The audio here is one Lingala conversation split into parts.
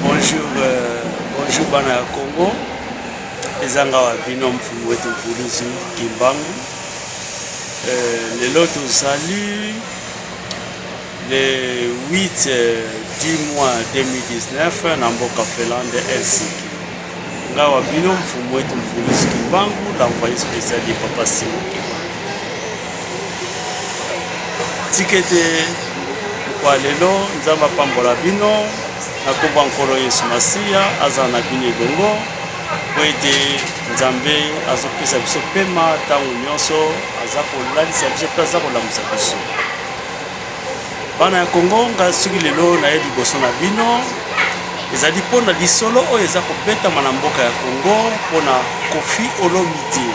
Bonjour, euh, bonjour bana ya Congo. Eza nga wa bino mfumu wetu Mvuluzi Kimbangu. Euh, lelo tozali le 8 euh, du mois 2019 na mboka Finlande Helsinki. Nga wa bino mfumu wetu Mvuluzi Kimbangu l'envoyé spécial de Papa Simo Kimbangu. Tikete kwa lelo Nzambe apambola bino na kombo nkolo Yesu Masiya azala na bino elongo mpo ete Nzambe azopesa biso pema ntango nyonso aza kolalisa biso mpe aza kolamusa biso. Bana ya Congo, ngai soki lelo naye liboso na bino ezali mpo na lisolo oyo eza kobetama na mboka ya Congo mpo na Koffi Olomide.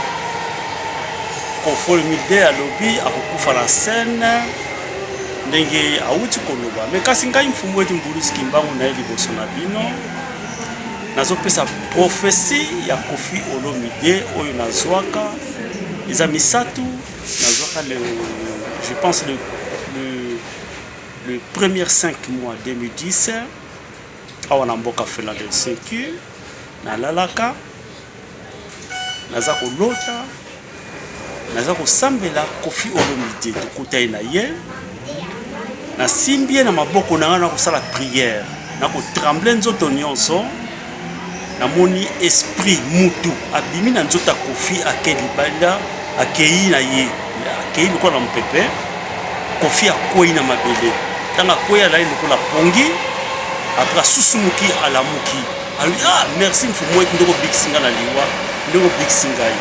Koffi Olomide alobi akokufa na scène ndenge awuti koloba me kasi ngai mfumu eti mbulusi kimbangu naye liboso na bino nazopesa profesi ya Koffi Olomide oyo nazwaka eza misato Nazwaka le, je pense le, le, le premier 5 mois 2010 awa na mboka Philadelphie que nalalaka naza kolota naza kosambela kofi olomide tokuta ye na ye nasimbi ye na maboko na ngai nakosala priere nakotremble nzoto nyonso Namoni esprit mutu abimi na nzoto ya Koffi ake libanda akeyi na ye akeyi lokola na mopepe Koffi akweyi na mabele ntango akweyi alali lokola pongi apres asusumuki alamuki alobi ah merci mfumuet ndenge obikisi ngai na liwa ndenge obikisi ngai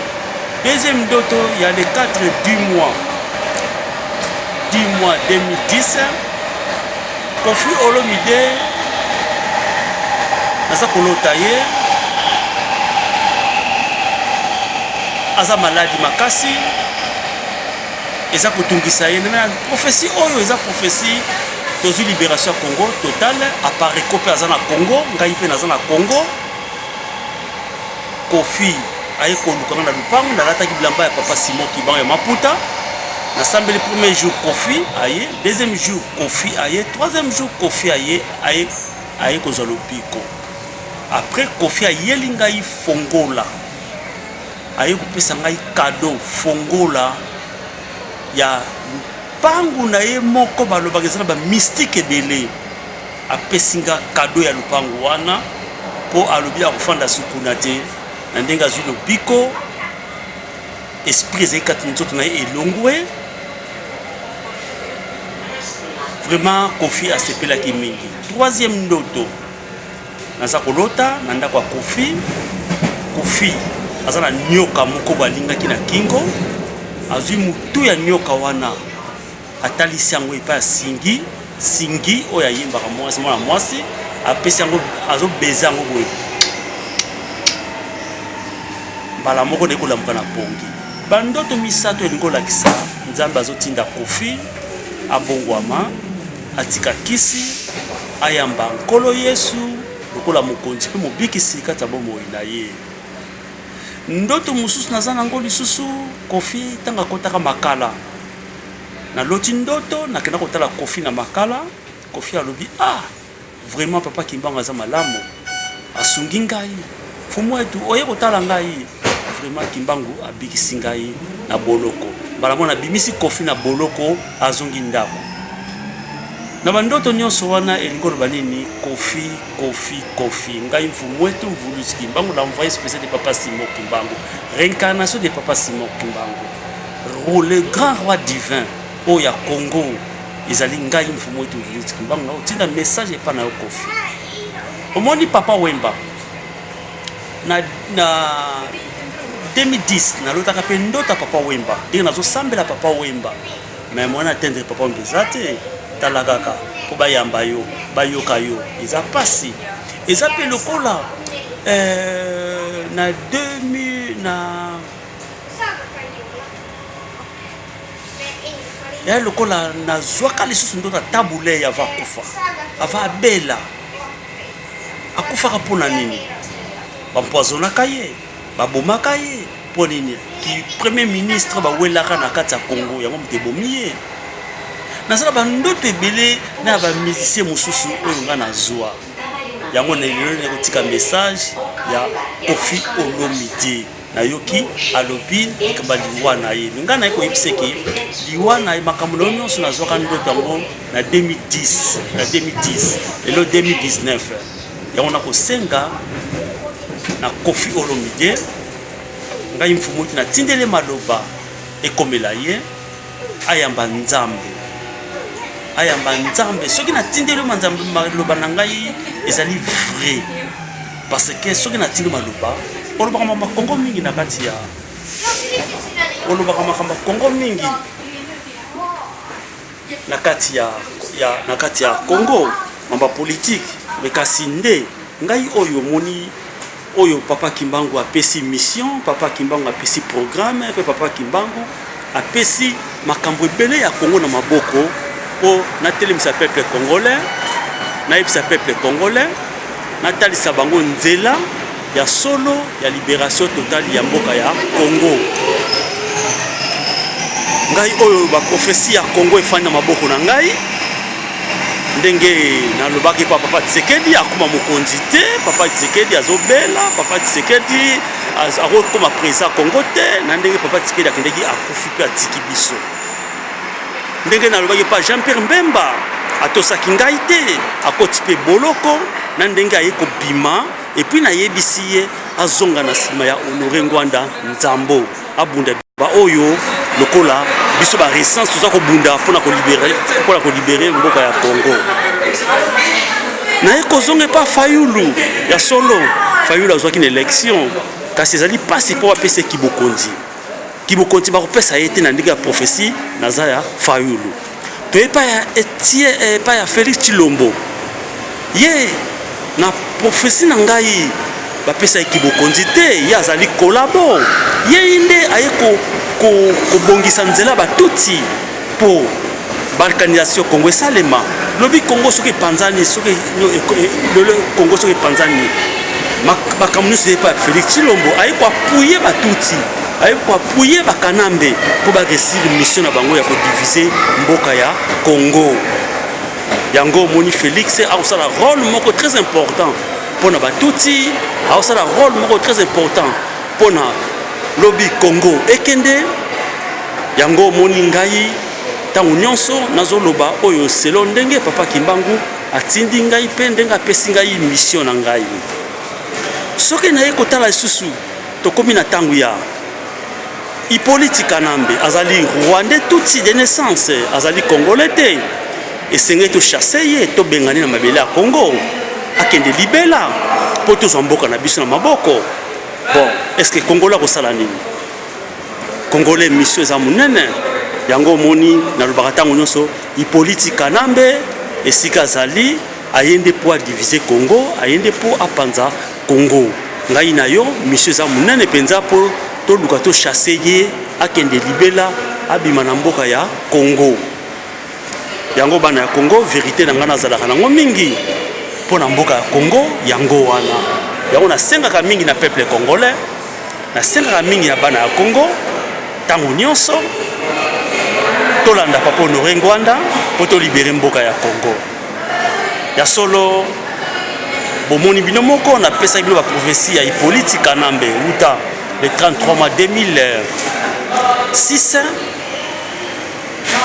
deuxième ndoto ya le 4 du mois du mois 2010 Koffi Olomide naza kolota ye aza maladi makasi eza kotungisa ye na profesi oyo eza profesi tozwi liberation ya congo total apareco mpe aza na congo ngai mpe naza na congo kofi aye koluka nga na lupango nalataki bilamba ya papa simon kiban ya maputa nasambeli premier jour kofi aye deuxième jour Koffi aye troisième jour Koffi aye aye aye kozwa lobiko après Koffi ayeli ngai fongola aye kopesa ngai cadeau fongola ya lupangu na ye moko balobaka eza na ba mystique ebele apesi nga cadeau ya lupangu wana mpo alobi akofanda sukuna te na ndenge azwi lobiko esprit ezali kati na nzoto na ye elongwe vraiment kofi asepelaki mingi troisième ndoto naza kolota na ndako ya kofi kofi aza na nyoka moko balingaki na kingo azwi motu ya nyoka wana Atalisi yango epai ya Singi, Singi oyo ayembaka mwasi mwana mwasi apesi yango azo baiser yango boye. Mbala moko naye kolamuka na pongi. Ba ndoto misato elingi kolakisa Nzambe azotinda Koffi abongwama, atika kisi, ayamba Nkolo Yesu lokola mokonzi mpe mobikisi kati ya bomoi na ye. Ndoto mosusu naza nango lisusu Koffi ntango akotaka makala na loti ndoto na kenda kotala kofi na makala kofi alobi ah vraiment papa kimbangu aza malamu asungi ngai fumu etu oye kotala ngai vraiment kimbangu abikisi ngai na boloko mbala mwana abimisi kofi na boloko azongi ndako na bandoto nyonso wana elingi oloba nini kofi kofi kofi ngai mfumu etu mvulusi kimbangu la envoye spécial de papa simon kimbangu réincarnation de papa simon kimbangu Le grand roi divin oyo ya Congo ezali ngai mfumu wetu Felix Kimbangu naotinda message epa na yo Koffi omoni papa Wemba na, na 2010 nalotaka mpe ndota papa Wemba ndenge nazosambela papa Wemba me mwana atendre papa Wemba eza te tala kaka mpo bayamba yo bayoka yo eza mpasi eza mpe lokola euh, na 2000 na ya lokola nazwaka lisusu ndoto ata bulei ava akufa ava abela akufaka mpo na nini bampoisonaka ye babomaka ye mpo nini ki premier ministre bawelaka na kati ya congo yango moto ebomi ye nazala bandoto ebele na bamusicien mosusu oyo ngai nazwa yango na elelo nakotika message ya kofi olomide nayoki alobi likambo ya liwa na ye me ngai naye koyebisa eke liwa na ye makambo na yo nyonso nazwaka ndoto yango na 2010 na 2010 lelo 2019 yango nakosenga na kofi olomide ngai mfumuti natindele maloba ekomela ye ayamba nzambe ayamba nzambe soki natindeli yo manzambe maloba na ngai ezali vrai Parce que soki na tindi maloba olobaka mama kongo mingi na kati ya olobaka makambo kongo mingi na kati ya, ya na kati ya kongo mamba politike me kasi nde ngai oyo omoni oyo papa kimbangu apesi mission papa kimbangu apesi programme mpe papa kimbangu Apesi makambo ebele ya Congo na maboko po na telemisa peuple congolais, na yebisa peuple congolais, na talisa bango nzela ya solo ya liberation totale ya mboka ya Congo. Ngai oyo ba prophetie ya Congo efandi na maboko na ngai. ndenge nalobaki pa papa tisekedi akoma mokonzi te papa tisekedi azobela papa tisekedi akokoma président congo te na ndenge papa tikedi akendeki akufi mpe atiki biso ndenge nalobaki pa jean pierre mbemba atosaki ngai te akoti mpe boloko na ndenge aye kobima epuis nayebisi ye azonga na nsima ya honore ngwanda nzambo abunda ba oyo lokola biso ba resistance toza kobunda mpona kolibere mpona kolibere mboka ya congo naye kozonga epa fayulu ya solo fayulu azwaki na election kasi ezali mpasi mpo bapesa kibokonzi kibokonzi bakopesa ye te na ndenge ya prophesie naza ya fayulu To epai ya etie eh, epai ya Felix Chilombo ye na profesi na ngai bapesa ye kibokonzi te, ye azali kolabo, yei nde aye kobongisa ko, ko nzela batuti mpo balkanisation Congo esalema lobi Congo soki epanzani soki lelo Congo soki epanzani makambo nyonso epa Felix Tshilombo aye koapuye batuti aye ko appuyer ba kanambe mpo ba réussir mission na bango ya ko diviser mboka ya congo yango omoni félix akosala rôle moko très important mpo na batutsi akosala rôle moko très important mpo na lobi congo ekende yango omoni ngai ntango nyonso nazoloba oyo selo ndenge papa kimbangu atindi ngai mpe ndenge apesi ngai mission na ngai soki naye kotala lisusu Tokomi na tangu ya Hypolite Kanambe azali Rwandais tutsi de naissance, azali Congolais te. Esengeli to chasser ye, to bengani na mabele ya Congo. Akende libela po tozwa mboka na biso na maboko. Bon, est-ce que Congolais akosala nini? Congolais mission eza munene. Yango omoni nalobaka tango nyonso Hypolite Kanambe esika azali aye nde po a diviser Congo, aye nde po apanza Congo ngai na yo mission eza munene penza po toluka to chasser ye akende libela abima na mboka ya Congo yango bana ya Congo verite na ngai nazalaka nango mingi mpo na mboka ya Congo yango wana yango nasengaka mingi na peuple congolais nasengaka mingi ya bana ya Congo ntango nyonso tolanda papa honore ngwanda mpo tolibere mboka ya congo Ya solo bomoni bino moko napesaki bino baprophesie ya hipoliti kanambe wuta le 33 mai 2006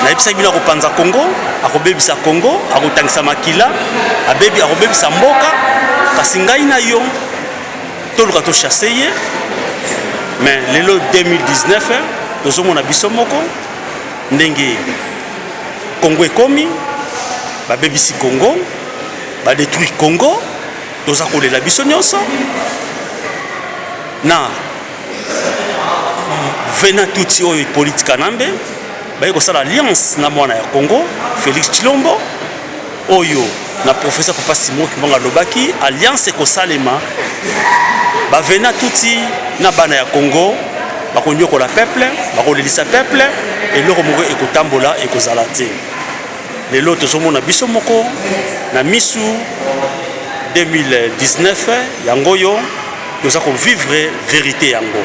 nayebisaki bino akopanza congo akobebisa congo akotangisa makila abebi akobebisa mboka kasi ngai na yo toluka tochasse ye mais lelo 2019 tozomona biso moko Ndenge Congo ekomi babebisi Congo ba détruire Congo toza kolela biso nyonso na vena tutsi oyo ipoliti kanambe baye kosala alliance na mwana ya congo félix tshilombo oyo na professeur papa Simon Kimbangu alobaki alliance ekosalema ba vena tuti na bana ya Congo bakonyokola peuple bakolelisa peuple eloko moko ekotambola ekozala te lelo tozomona biso moko na misu 2019 yango oyo toza kovivre verite yango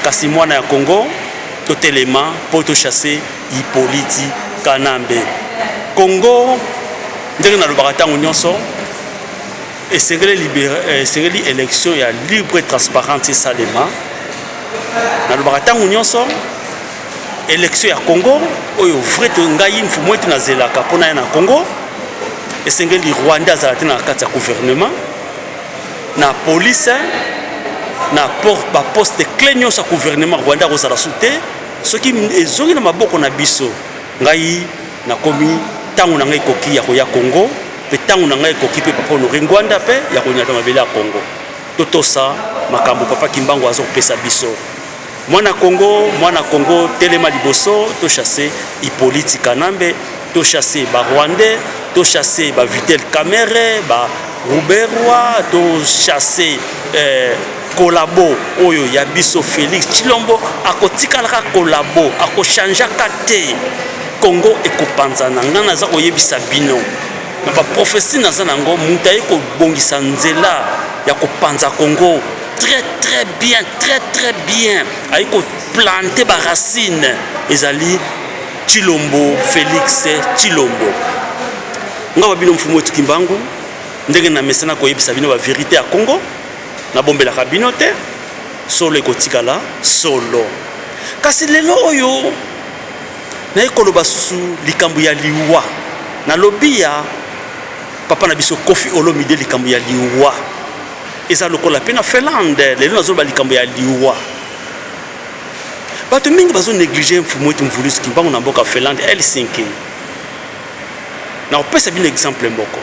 kasi mwana ya Congo totelema mpo tochasse Hypoliti Kanambe. Congo ndenge nalobaka ntango nyonso esengeli libere, eh, esengeli election ya libre et transparente esalema. Nalobaka ntango nyonso election ya Congo oyo vrai to ngai mfumu ete nazelaka mpo naya na Congo esengeli Rwanda azala te na kati ya gouvernement na police na port baposte cle nyonso ya gouvernement Rwanda akozala su te Soki ezongi na maboko na biso, ngai nakomi tango na ngai ekoki ya koya Congo pe tango na ngai ekoki pe papa Honore Ngwanda pe ya konyata mabele ya Congo. Totosa makambo papa Kimbangu azo pesa biso. Mwana Congo, mwana Congo telema liboso to chasse Hypolite Kanambe, to chasse ba Rwandais, to chasse ba Vitel Kamerhe, ba Ruberwa, to chasse eh, collabo oyo ya biso Felix Tshilombo akotikala ka collabo akochange ka te Congo ekopanzana ngai naza koyebisa bino na baprofesi naza na yango moto aye kobongisa nzela ya kopanza Congo très très bien très très bien aye koplante baracine ezali Tshilombo Felix Tshilombo ngai babino mfumu etukimbangu ndenge na mesana koyebisa bino baverité ya Congo Nabombelaka bino te, solo ekotikala solo. Kasi lelo oyo naye koloba susu likambo ya liwa. Nalobi ya papa na biso Koffi Olomide likambo ya liwa. Eza lokola pe na Finlande, lelo nazoloba likambo ya liwa. Bato mingi bazo negliger Mfumu wetu Mvuluzi Kimbangu na mboka Finlande, Helsinki. nakopesa bino exemple moko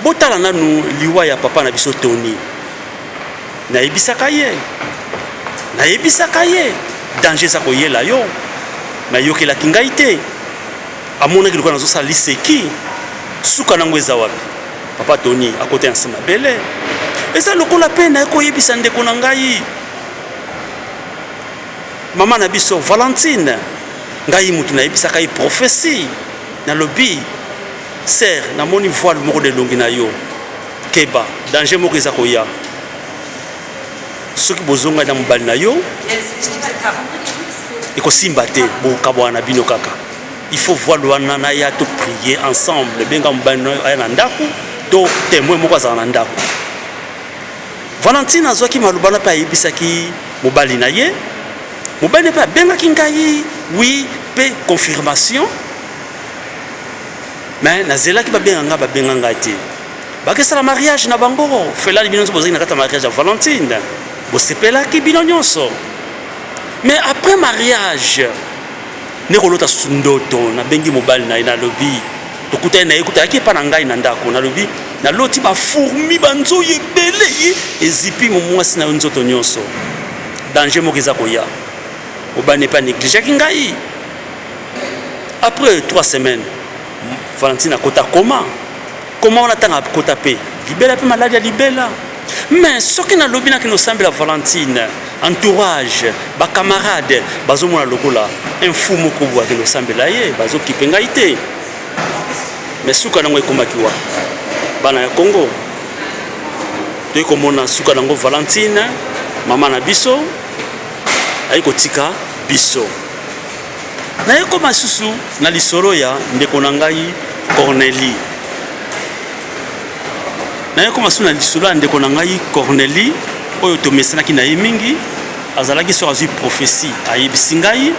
botala nanu liwa ya papa na biso toni nayebisaka ye nayebisaka ye danger eza koyela yo me ayokelaki ngai te amonaki lokola nazosala liseki suka nango eza wapi papa toni akota ya nse mabele eza lokola mpe naye koyebisa ndeko na ngai Maman na biso Valentine, ngai mutu na yebisaka ye prophetie, na lobi sœur, na moni voile moko na elongi na yo, keba danger moko eza koya soki bozongani na mobali na yo ekosimba te bokabwana na bino kaka il faut voile wana naya to prier ensemble benga mobali na yo aya na ndako to temoin moko azala na ndako Valentina azwaki maloba wana mpe ayebisaki mobali na ye. Mobali na ye mpe abengaki ngai wi mpe confirmation, me nazelaki babenga ngai, babenga ngai te. Bakesala mariage na bango, Felani bino nyonso bozalaki na kati ya mariage ya Valentine, bosepelaki bino nyonso. Me après mariage nde kolota susu ndoto nabengi mobali na ye nalobi tokutani na ye kuta yaki epa na ngai na ndako nalobi naloti bafourmi banzoi ebele ye ezipi momwasi na yo nzoto nyonso danger moko eza koya mobali epa negligeaki ngai après trois semaines valentine akota koma Koma wana tanga kota pe libela pe maladi ya libela. Mais soki nalobi na kino sambela Valentine, entourage, ba camarades bazomona lokola un fou moko boye akende kosambela ye, bazokipe ngai te. Mais suka nango ekomaki wa bana ya Congo toyei komona suka nango Valentine mama na biso ayi kotika biso. Nayekoma susu na lisolo ya ndeko na ngai Cornelie. Nayekoma susu na lisolo ya ndeko na ngai Cornelie oyo tomesanaki na ye mingi. Azalaki soki azwi profesi ayebisi ngai,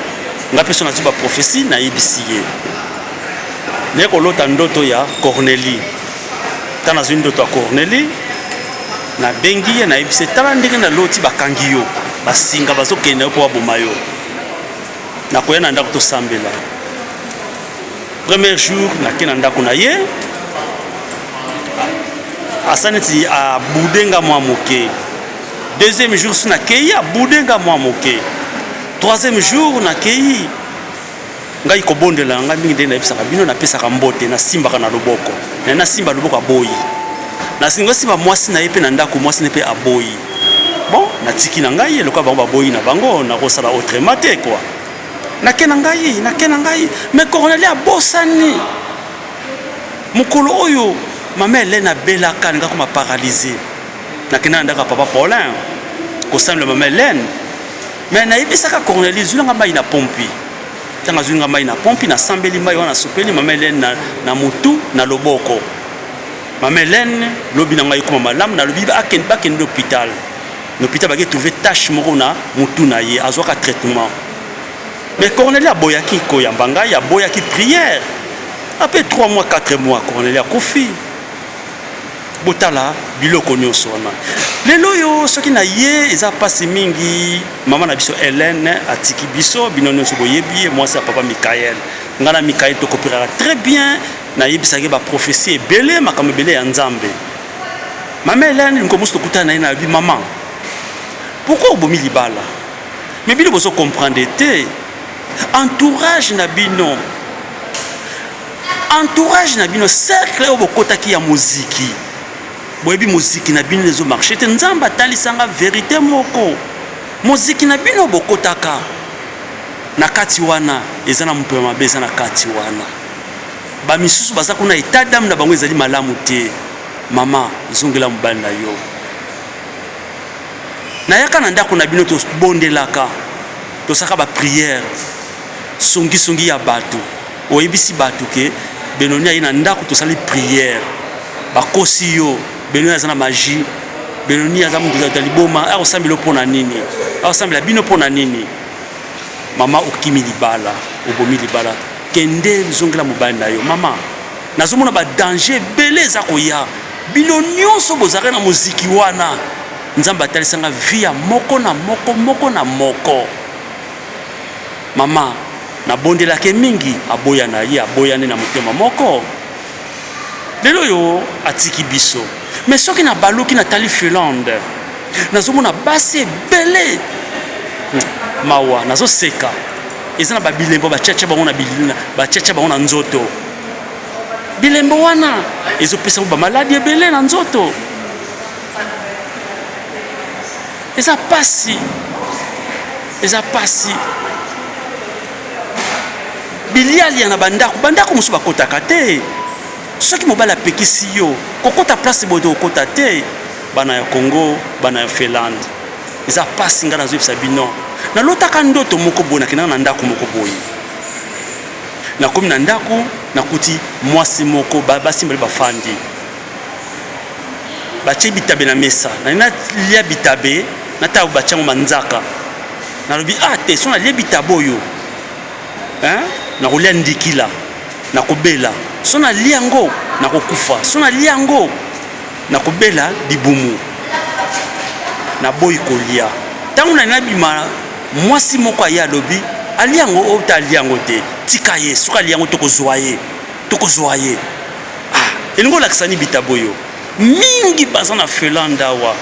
ngai mpe soki nazwi baprofesi nayebisi ye. Naye kolota ndoto ya Cornelie. Ntango nazwi ndoto ya Cornelie, nabengi ye nayebisi ye, tala ndenge naloti bakangi yo basinga bazokende na yo mpo baboma yo. nakoya na ndako tosambela premier jour nake na ndako na ye asa neti abude nga mwa moke deuxième jour si nakei abude nga mwa moke troisième jour nakei Ngai kobondela na ngai mingi nde nayebisaka bino, napesaka mbote, nasimbaka na loboko na ye, nasimba loboko aboyi, nalingi asimba mwasi na ye mpe na ndako, mwasi na ye mpe aboyi, bon natiki na ngai ye, lokola bango baboyi na bango, nakosala autrement te quoi, nake na ngai, nake na ngai, mais Cornelia abosani mokolo oyo mama Helène abelaka, alinga koma paralyse, nakenda na ndako ya papa Paulin kosambela mama Helène, mais nayebisaka Cornelia, zwila ngai mayi na pompi. ntango azwi nga mai na pompi nasambeli mai wana nasopeli mama helene na, na motu na loboko mama helene lobi na ngai ekoma malamu nalobi bakende bakende lopital lopital bake trouve tache moko na motu na ye azwaka traitement mais corneli aboyaki koyamba ngai aboyaki prière apres 3 mois 4 mois corneli akufi Botala biloko nionso wana lelo oyo soki na ye eza pasi mingi mama na biso Helène atiki biso bino nionso boyebi ye mwasi ya papa Michael nga na Michael tokopiraka très bien na yebisaka ye ba prophetie ebele makambo ebele ya Nzambe mama Helène nko musu tokutana na ye na bi mama pourquoi obomi libala mais bino bozo comprendre te entourage na bino Entourage na bino cercle oyo bokotaki ya moziki boyebi moziki na bino ezo marche te nzambe atalisanga verite moko moziki na bino bokotaka na kati wana eza na mopepe mabe eza na kati wana bamisusu baza kuna etat dame na bango ezali malamu te mama zongela mobali na yo nayaka na ndako na bino tobondelaka tosaka bapriere songisongi ya bato Oyebisi batu que Benoni aye na ndaku tosali prière. Bakosi yo. Benoni aza na magie. Benoni aza mutu ya liboma. Akosambela yo pona nini? Akosambela bino pona nini? Mama okimi libala, obomi libala. Kende zongela mobali na yo. Mama, nazomona ba danger ebele eza koya. Bino nionso bozalaka na moziki wana. Nzambe atalisa nga vie ya moko na moko, moko na moko. Mama, nabondelak'e mingi aboya na ye, aboya nde na motema moko. Lel'oyo atiki biso. Mais soki nabaluki natali Finlande, nazomona basi ebele, mawa, nazoseka, eza na ba bilembo batiatia bango na, batiatia bango na nzoto. Bilembo wana ezopesa bango ba maladi ebele na nzoto. eza pasi eza pasi bilialia na bandako bandako mosusu bakotaka te soki mobali apekisi yo kokota place boye te kokota te bana ya congo bana ya finlande eza pasi ngai nazoyebisa bino nalotaka ndoto moko boye nakendaka na ndako moko boye nakomi na ndako nakuti mwasi moko basi mbali bafandi batie bitabe na mesa nani nalia bitabe na ntango batie yango manzaka nalobi ah te so nalie bitabe oyo nakolia ndikila nakobela so nalie yango nakokufa so nalie yango nakobela libumu naboyi kolia ntango nani nabima mwasi moko aye alobi alia yango ota alia yango te tika ye soki alia yango tokozwa ye tokozwa ye Ah, elingi olakisa ni bitabo yo mingi baza na felanda awa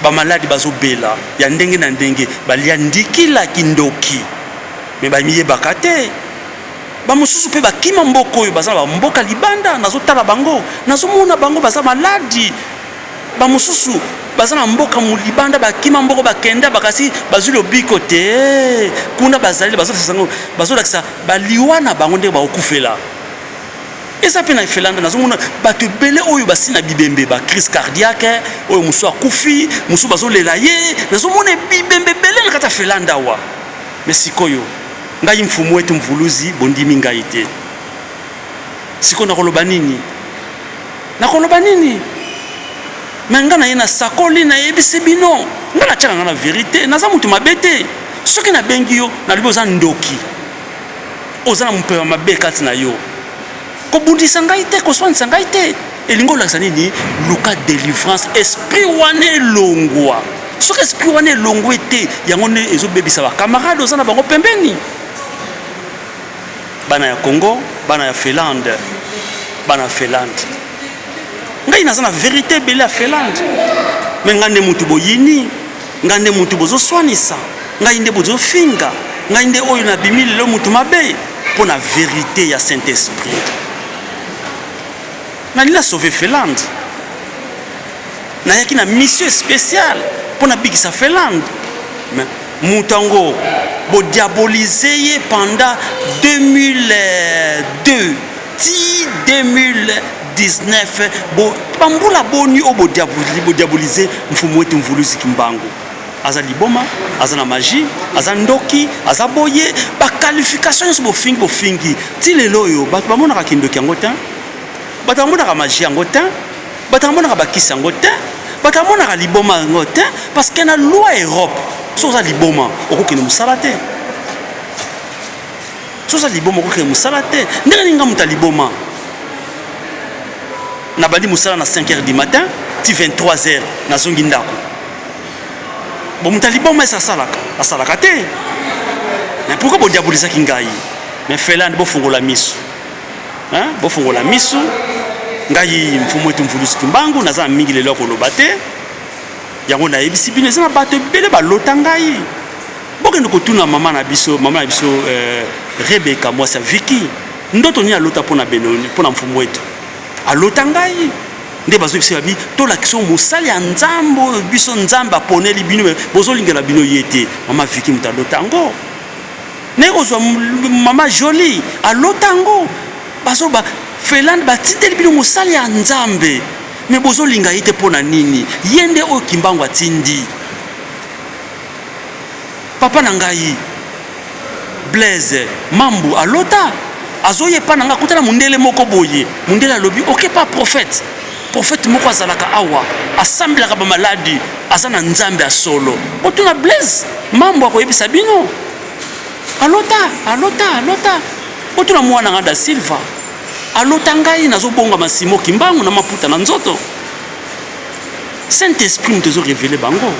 bamaladi bazobela ya ndenge na ndenge balia ndikila kindoki me bamiyebaka te bamosusu mpe bakima mboka oyo baza na bamboka libanda nazotala bango nazomona bango baza maladi bamosusu baza na mboka molibanda bakima mboko bakenda bakasi bazwi lobiko te kuna bazali bazolakisa bazolakisa baliwa na bango ndenge bakokufela eza mpe na efelanda nazomona bato ebele oyo basi na bibembe ba crise cardiaque oyo mosusu akufi mosusu bazolela ye nazomona bibembe ebele na kati ya felanda awa me sikoyo ngai mfumu ete mvuluzi bondimi ngai te sikoyo nakoloba nini nakoloba nini me ngai na ye nasakoli nayebisi bino ngai natyaka ngai na verite naza moto mabe te soki nabengi yo nalobi oza ndoki Oza na mopepe ya mabe kati na yo. Kobundisa ngai te, koswanisa ngai te. Elingi olakisa nini? Luka delivrance, esprit wana elongwa. Soki esprit wana elongwe te, yango nde ezobebisa bakamarade oza na bango pembeni. Bana ya Congo, bana ya Finlande, bana ya Finlande. Ngai naza na verite ebele ya Finlande, me ngai nde motu boyini Ngai nde mutu bozo swanisa, ngai nde bozo finga, ngai nde oyo na bimi lelo mutu mabe mpo na verite ya Saint Esprit. Nani na sauve Finlande? Nayaki na mission spéciale mpo nabikisa Finlande. Mais moto yango bodiabolize ye pendant 2002 ti 2019 bo bambula boni oyo bodiabolize mfumu wetu mvuluzi kimbangu aza liboma aza na magie aza ndoki aza boye baqualification nyonso bofingi bofingi ti lelo oyo bato bamonaka kindoki yango te bato bamonaka magie yango te bato bamonaka bakisi yango te bato bamonaka liboma yango te parce que na loi europe soki oza liboma okokende mosala te soza liboma okokende mosala te ndenge nini nga moto ya liboma nabandi mosala na 5 heures du matin ti 23 heures nazongi ndako bo moto ya liboma esi asalaka asalaka te mais pourkoi bodiabolizaki ngai mais felande bofungola miso bofungola miso ngai mfumu etu mvulusu kimbangu naza na mingi lelo ya koloba te yango nayebisi bino eza na bato ebele balota ngai bokende kotuna mama na biso mama na biso eh, rebeka mwasi ya viki ndoto nini alota mpo na benoni mpo na mfumu wetu alota ngai nde bazobisa babi tolakisa mosali ya nzambe oyo biso nzambe aponeli bino bozolingela bino ye te mama viki moto alota yango naye kozwa mama joli alota yango bazoba felande batindeli bino mosali ya nzambe Mais bozo linga ye te pona nini? Ye nde oyo Kimbangu atindi. Papa na ngai Blaise Mambu alota azoya epa na ngai akuta na mundele moko boye. Mundele alobi ok pa prophète. Prophète moko azalaka awa asambelaka ba maladi aza na nzambe ya solo. Botuna Blaise Mambu akoyebisa bino. Alota, alota, alota. Botuna mwana nga da Silva. Alota ngai nazo bongama Simon Kimbangu na maputa na nzoto. Saint Esprit moto ezo revele bango.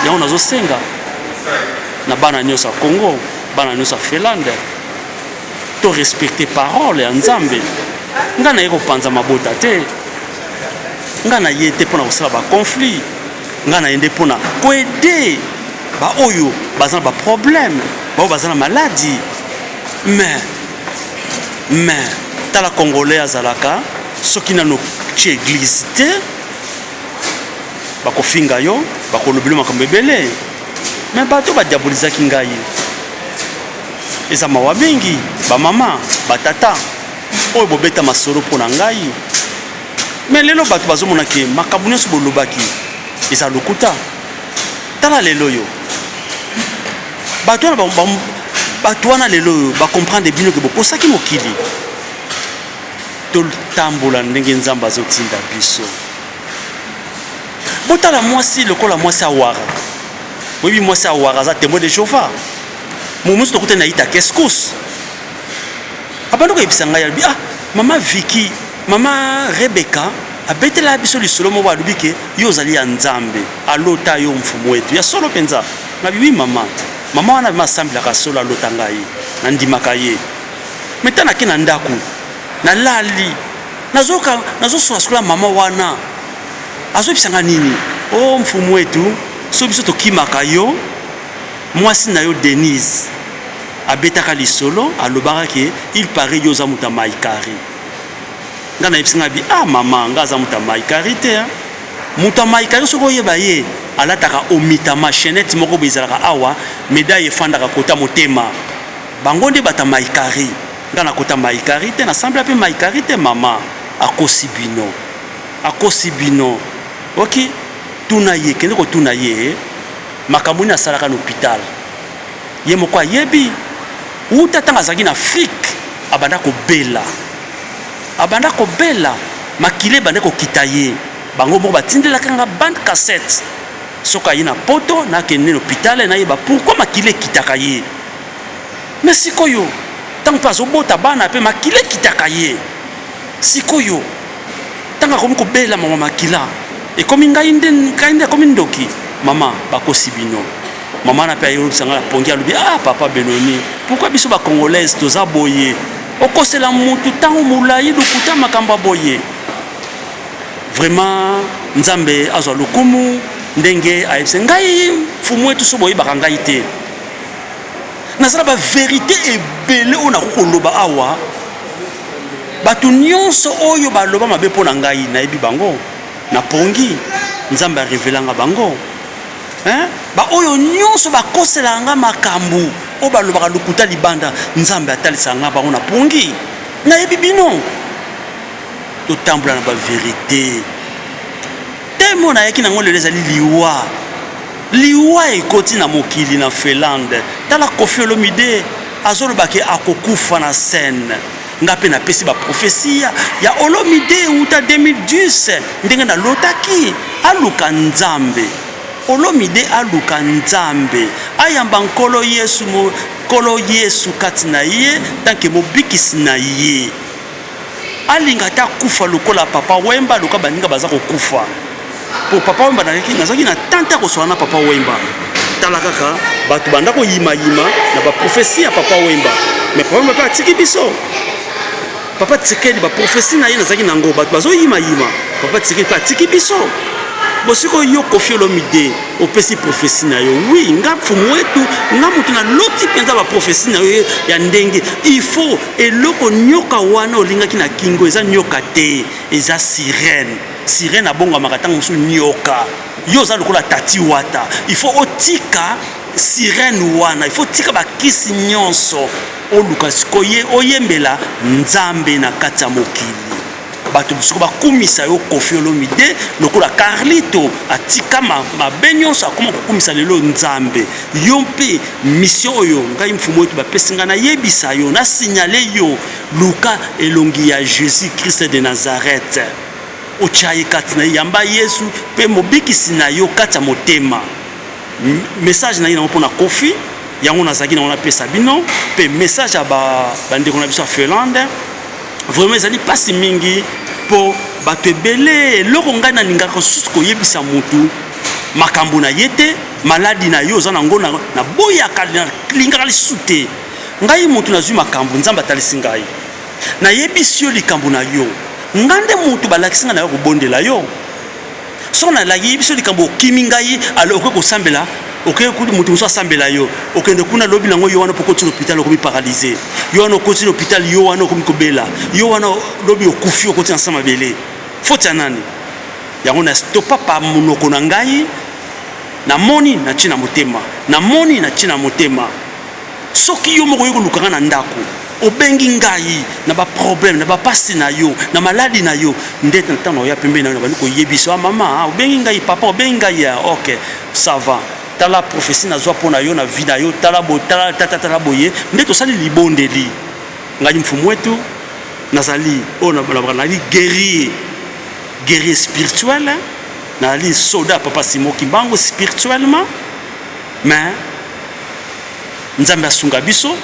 Yango nazo senga na bana nyonso ya Congo, bana nyonso ya Finlande to respecter parole ya Nzambe. Ngai naye kopanza mabota te. Ngai naye te mpona kosala ba conflit. Ngai naye nde mpona koede baoyo baza na baproblème, baoyo baza na maladi mais mais tala congolais azalaka soki nano ci eglise te bakofinga yo bakolobela makambo ebele me bato badiabolizaki ngai eza mawa mingi bamama batata oyo bobeta masolo mpo na ngai me lelo bato bazomonake makambo nyonso bolobaki eza lokuta Tala lelo oyo bato wana ba- ba- bato wana lelo oyo bacomprendre bino ke bokosaki mokili totambola ndenge nzambe azotinda biso botala mwasi lokola mwasi awara boyebi mwasi awara aza tembo de jehova momosi tokutani na yita keskus abandi koyebisa ngai alobi ah mama viki mama rebeka Abetela biso lisolo moko alobi ke yo ozali ya Nzambe alota yo mfumu wetu ya solo penza na biwi mama mama wana vrema asambelaka solo alota ngai na ndimaka ye me ta nake na ndaku na lali nazoka nazosona sikola mama wana azobisanga nini o oh, mfumu wetu so biso tokimaka yo mwasi na yo denise abetaka lisolo alobaka ke il parait yo oza moto ya maikari Nga na yebisi nga bi ah maman nga aza muta mai kari te hein. Muta mai kari soki oyeba ye alataka omitama chainette moko bo ezalaka awa medaille efandaka kota motema. Bango nde bata mai kari. Nga na kota mai kari te na sambela pe mai kari te maman akosi bino. Akosi bino. Oki tuna ye kende ko tuna ye makambo nini asalaka na hopital. ye moko ayebi wuta ntango azalaki na Afrique abanda kobela abanda kobela makila ebanda kokita ye bango moko batindelaka nga bande cassette soki aye na poto nakende na hopitale nayeba pourkui makila ekitaka ye me sikoyo ntango mpe azobota bana mpe makila ekitaka ye sikoyo Tango akomi kobela maman makila ekomi ngai nde ngai nde akomi ndoki maman bakosi bino maman na pe ayolobisa ngai na pongi alobi ah papa Benoni pourquoi biso ba congolaise toza boye okosela mutu tango mulayi lokuta makambo boye vraiment nzambe azwa lokumu ndenge ayebisa ngai fumu etu so boyebaka ngai te nazala ba verite ebele oyo nakoki koloba awa Bato nyonso oyo baloba mabe mpo na ngai, nayebi bango, napongi, Nzambe arevelanga bango. Hein? baoyo nyonso bakoselaka ngai makambo oyo balobaka lokuta libanda nzambe atalisaka ngai bango na pongi nayebi bino totambola na baverite Thème oyo nayaki nango lelo ezali liwa. Liwa ekoti na mokili na Finlande. Tala Koffi Olomide azoloba ke akokufa na scène. Nga pe napesi ba prophetie ya Olomide uta 2010 ndenge nalotaki. Aluka Nzambe. Olomide aluka Nzambe. Ayamba Nkolo Yesu, Nkolo Yesu kati na ye tanke mobikisi na ye. Alinga ata akufa lokola papa wemba lokola baninga baza kokufa po papa wemba nazalaki na temps te ya koswana na papa wemba tala kaka bato banda koyima yima na ba prophetie ya papa wemba mais papa wemba mpe atiki biso papa tsekedi ba prophetie na ye nazalaki na yango bato bazoyima yima papa tsekedi mpe atiki biso bosiko yo kofi olomide opesi profesi na yo wi nga mfumu wetu nga moto naloti mpenza baprofesi na yo ya ndenge il faut Eloko nyoka wana olingaki na kingo eza nyoka te eza sirène sirène abongwamaka ntango mosusu nyoka yo oza lokola tati wata il faut otika sirène wana il faut otika bakisi nyonso oluka sikoye oyembela nzambe na kati ya mokili bato mosuku bakumisa yo kofi olomide lokola carlito atika mabe nyonso akoma kokumisa lelo nzambe yo mpe misio oyo ngai mfumu oyo bapesi ngai nayebisa yo na signale yo luka elongi ya jésus christ de nazareth otya ye kati na ye yamba yesu mpe mobikisi na yo kati ya motema Message na ye nango pona Koffi yango nazalaki nango napesa bino pe message ya ba bandeko na biso ya Finlande vraiment ezali pasi mingi po bato ebele eloko ngai nalingaka susu koyebisa mutu makambo na ye te maladi na yo oza nango na boyaka nalingaka lisusu te ngai mutu nazwi makambo nzambe atalisi ngai nayebisi yo likambo na yo ngai nde mutu balakisi ngai na yo kobondela yo Soki nalaki biso likambo okimi ngai, alors okoki kosambela oke kutu moto mosusu asambela yo okende kuna lobi nango yo wana pokoti lopital okomi paralyse yo wana okoti lopital yo wana okomi kobela yo wana lobi okufi okoti na nsa mabele foti ya nani yango na stopa pa monoko na ngai namoni natie na motema namoni natie na motema Soki yo moko oye koluka nga na ndako, obengi ngai na ba problème, na ba pasi na yo, na maladi na yo, nde na ntango naoya pembeni na yo nabandi koyebisa ah, mama, ah, obengi ngai papa, obengi ngai ya ah, ok, ça va tala prophetie nazwa mpo na yo na vie na yo, tala bo tala tata tala boye, nde tosali libondeli. Ngai mfumu wetu nazali oyo nabalabala nazali guerrier guerrier spirituel nazali soda papa simo kimbangu spirituellement mais Nzambe asunga biso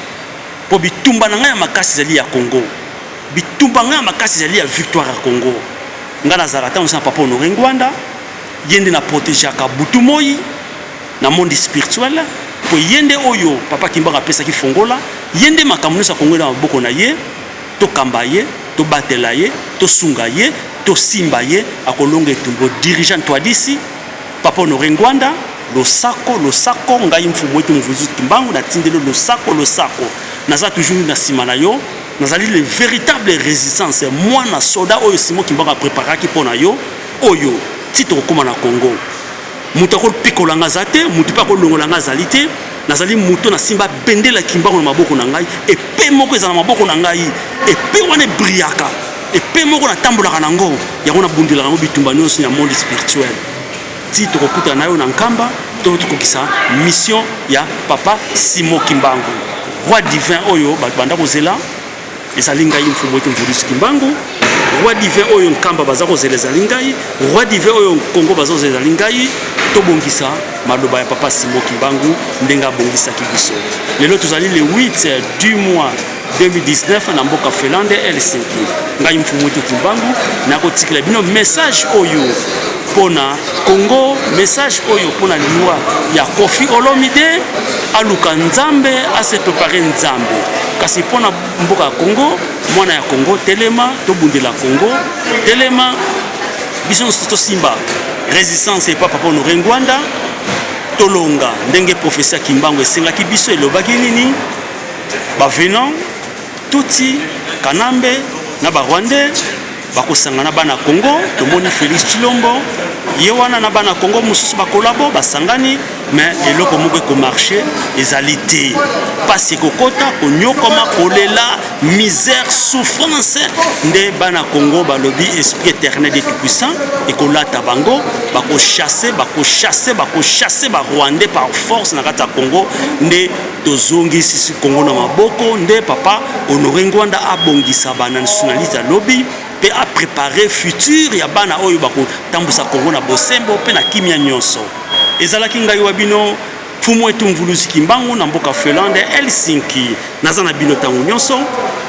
po bitumba na ngai ya makasi ezali ya Congo. Bitumba ngai ya makasi ezali ya victoire ya Congo. Ngai nazalaka ntango na Papa Honore Ngwanda, ye nde na protegeaka butu moi na monde spirituel po ye nde oyo Papa Kimbangu apesaki fongola, ye nde makambo nyonso ya Congo na maboko na ye, tokamba ye, tobatela ye, tosunga ye, tosimba ye, akolonga etumbo. Dirigeant Ntwadisi. Papa Honore Ngwanda, losako, losako, ngai Mfumu Wetu Mvuzu Tumbangu na tindeli yo losako, losako, naza toujours na sima na yo, nazali le veritable resistance, mwana soda oyo Simon Kimbangu a preparaki mpo na yo, oyo ti tokokoma na Congo. Moto akopikola nga aza te, moto mpe akolongola nga azali te, nazali moto nasimba bendele ya Kimbangu na maboko na ngai, epe moko ezala na maboko na ngai, epe wana ebriyaka. epe moko natambolaka na yango yango nabundelaka yango bitumba nyonso ya monde spirituel ti tokokutana na yo na nkamba to tokokisa mission ya papa simo kimbangu roi divin oyo bato banda kozela ezali ngai mfumu ete mvulusi kimbangu roi divin oyo nkamba baza kozela ezali ngai roi divin oyo kongo baza kozela ezali ngai tobongisa maloba ya papa simo kimbangu ndenge abongisaki biso lelo tozali le 8 du mois 2019 na mboka Finlande Helsinki. Ngai Mfumutu Kumbangu nakotikela bino message oyo pona Congo, message oyo pona liwa ya Koffi Olomide, aluka Nzambe, ase prepare Nzambe. Kasi pona mboka ya Congo, mwana ya Congo, telema tobundela Congo, telema biso nyonso tosimba resistance epa Papa Honore Ngwanda, tolonga ndenge professeur Kimbangu esengaki biso, elobaki nini ba venant tutsi kanambe na ba rwandais bakosangana bana congo tomoni félix chilombo ye wana na bana congo mosusu bakolabo basangani me eloko moko ekomarche ezali te mpasi ekokota konyokoma kolela misère souffrance nde bana congo balobi esprit éternel de tout-puissant ekolata bango bakochasse bakochasse bakochasse barwandais par force na kati ya congo nde Tozongi sisi Congo na maboko nde papa Honore Ngwanda abongisa ba nationaliste ya lobi pe a prepare future ya bana oyo bakotambusa Congo na bosembo pe na kimia nionso. Ezalaki ngai wa bino Mfumu Etu Mvuluzi Kimbangu na mboka Felande Helsinki. Naza na bino tango nionso.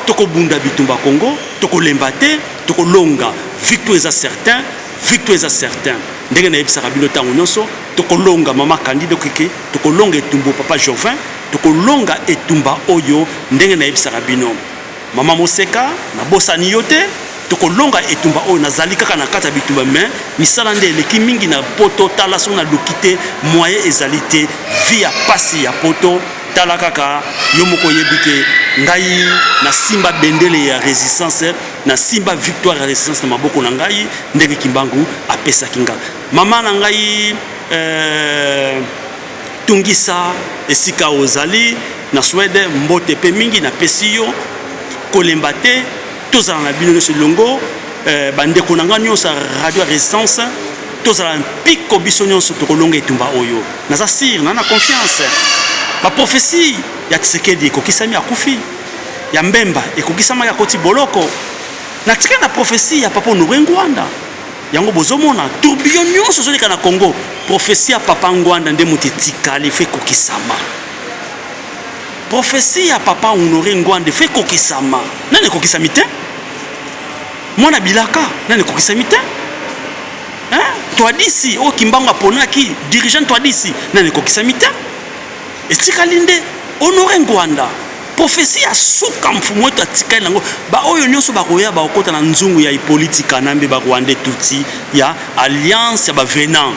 Tokobunda bitumba Congo, tokolemba te, tokolonga. Victoire eza certain, victoire eza certain. Ndenge nayebisaka bino tango nionso, tokolonga mama Candide Okeke. Tokolonga etumbo papa jovin tokolonga etumba oyo ndenge na yebisaka bino maman moseka na bosani yo te tokolonga etumba oyo nazali kaka na kati ya bitumba me misala nde eleki mingi na poto tala soki na luki te moyen ezali te vi ya pasi ya poto tala kaka yo moko oyebi ke ngai nasimba bendele ya resistance nasimba victoire ya resistance na maboko na ngai ndenge kimbangu apesaki ngai Mama na ngai eh, tungisa esika ozali na Swede mbote pe mingi na pesi yo kolemba te tozala na bino nyonso elongo eh, bandeko na ngai nyonso ya radio resistance tozala mpiko biso nyonso tokolonga etumba oyo naza sire na na confiance baprofesi ya tisekedi ekokisami akufi ya mbemba ekokisamaki akoti boloko natika na profesi ya papa honore ngwanda Yango bozo mona tourbillon nionso ezo leka na Congo prophetie ya papa Ngwanda nde moto etikali il faut ekokisama. Prophetie ya papa Honore Ngwanda il faut ekokisama. Nani ekokisami te? Mwana bilaka nani ekokisami te? Hein? Twadisi oyo Kimbangu aponaki dirigeant Twadisi nani ekokisami te? Etikali nde Honore Ngwanda. Prophetie ya suka mfumu wetu atikali nango ba oyo nionso bakoya bakokota na nzungu ya Hippolyte Kanambe ba Rwandais Tutsi ya alliance ya ba venant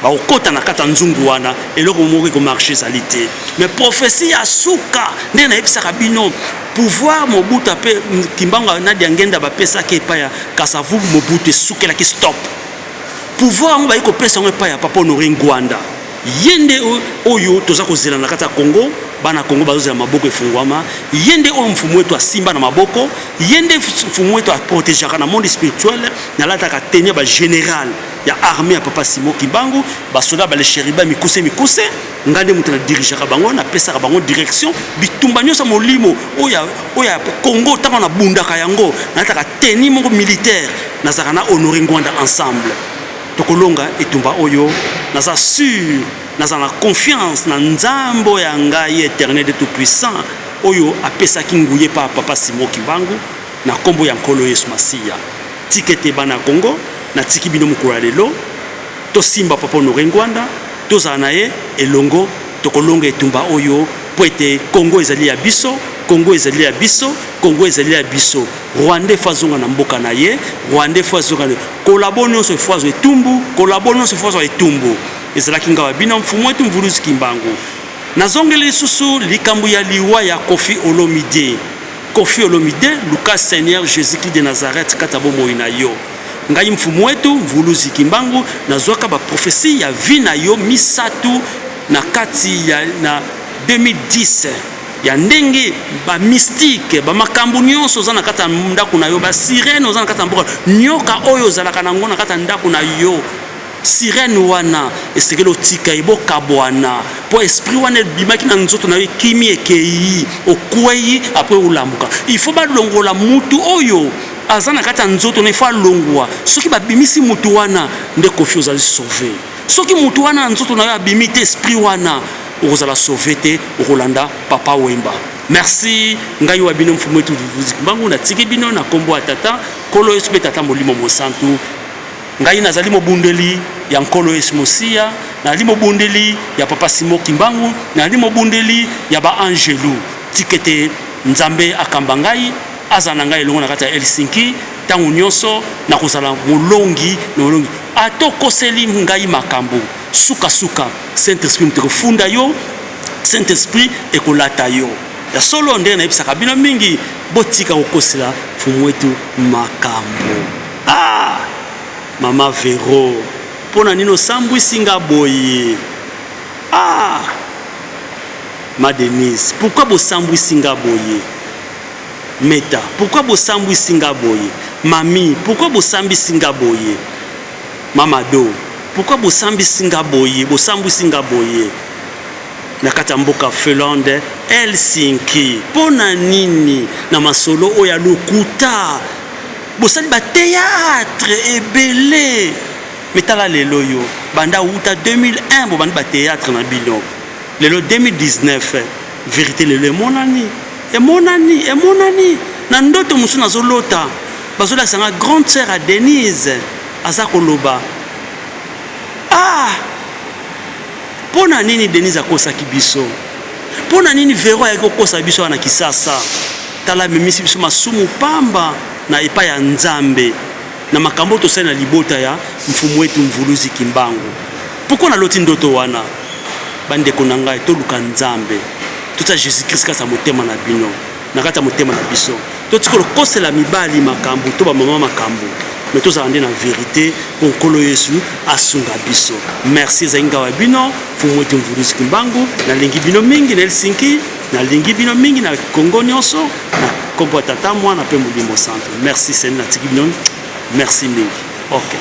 bakokota na kati ya nzungu wana eloko moko ekomarche ezali te mais prophetie ya suka ndenge nayebisaka bino pouvoir Mobutu ape Kimbangu na Diangenda bapesaki epai ya Kasavubu Mobutu esukelaki stop pouvoir yango bayi kopesa yango epai ya Papa Honore Ngwanda Ye nde oyo toza kozela na kati ya Congo, bana Congo bazozela maboko efunguama. Ye nde oyo mfumu wetu asimba na maboko, ye nde mfumu wetu aprotegeaka na monde spirituel. Nalataka teni ya ba general ya armee ya Papa Simo Kimbangu, basoda bale sheriba mikuse mikuse, nga nde moto na dirigeaka bango, napesaka bango direction. Bitumba nyonso ya molimo oyo oyo ya Congo ntango nabundaka yango, nalataka teni moko militaire, nazalaka na Honore Ngwanda ensemble. Tokolonga etumba oyo naza sur naza na confiance na nzambe oyo ya ngai eternel et tout puissant oyo apesaki nguya epa ya papa Simon Kimbangu na nkombo ya Nkolo Yesu Masiya. Tika ete bana ya Congo natiki bino mokolo ya lelo tosimba papa Honore Ngwanda tozala na ye elongo tokolonga etumba oyo mpo ete Congo ezali ya biso, Congo ezali ya biso, Congo ezali ya biso. Rwandais faut azonga na mboka na ye, Rwandais faut azonga na collabo nyonso il faut azwa etumbu, collabo nyonso il faut azwa etumbu. Ezalaki nga babina mfumu wetu Mvuluzi Kimbangu. Nazongeli lisusu likambo ya liwa ya Koffi Olomide. Koffi Olomide, luka Seigneur Jésus-Christ de Nazareth kata bomoi na yo. Ngai mfumu wetu Mvuluzi Kimbangu nazwaka ba prophetie ya vie na yo misato na kati ya na 2010 ya ndenge ba mystique ba makambo nyonso oza na kati ya ndako na yo ba sirene oza na kati ya mboka nyoka oyo ozalaka na yango na kati ya ndako na yo sirene wana esengeli otika ye bokabwana mpo esprit wana ebimaki na nzoto na yo ekimi ekei okwei apres olamuka il faut balongola mutu oyo aza na kati ya nzoto na ifo alongwa soki babimisi mutu wana nde kofi ozali sauve soki mutu wana ya nzoto na yo abimi te esprit wana okozala sauve te okolanda papa wemba merci ngai wa bino mfumu etu vivuzi kimbangu natiki bino na kombo ya tata nkolo yesu mpe tata molimo mosantu ngai nazali mobundeli ya nkolo yesu mosiya nazali mobundeli ya papa simo kimbangu nazali mobundeli ya baangelu tikete nzambe akamba ngai azala na ngai elongo na kati ya helsinki ntango nyonso nakozala molongi na molongi ata okoseli ngai makambo Suka suka saint esprit moto ekofunda yo saint esprit ekolata yo ya solo ndenge nayebisaka bino mingi botika kokosela fumu wetu makambo ah mama vero mpo na nini osambwisi nga boye ah ma denise pourkui bosambwisi nga boye meta pourkui bosambwisi nga boye mami pourkui bosambisi nga boye Mama Ado pourquoi bosambisi nga boye bosambwisi nga boye na kati ya mboka Finlande Helsinki pona nini na masolo oyo ya lokuta bosali ba theatre ebele mais tala lelo yo banda wuta 2001 bobandi ba theatre na bino lelo 2019 Verite lelo emonani emonani emonani na ndoto mosusu nazolota bazolakisa nga grande sœur ya Denise aza koloba ah mpo na nini Denise akosaki biso mpo na nini Vero ayaki kokosa biso wana Kisasa tala amemisi biso masumu pamba na epai ya Nzambe na makambo tosali na libota ya mfumu wetu Mvuluzi Kimbangu Pourquoi na loti ndoto wana? Ba ndeko na ngai toluka Nzambe, totia Jesus Christ kati ya motema na bino, na kati ya motema na biso. Totika kokosela mibali makambu to ba mama makambu, mais tozala nde na verite po Nkolo Yesu asunga biso. Merci, ezali ngai wa bino Mfumu Mweti Mvuluzi Kimbangu. Nalingi bino mingi na Helsinki, nalingi bino mingi na Congo nionso, na kombo ya Tata, Mwana pe Molimo Santu. Merci Seigneur, natiki bino. Merci mingi. Okay.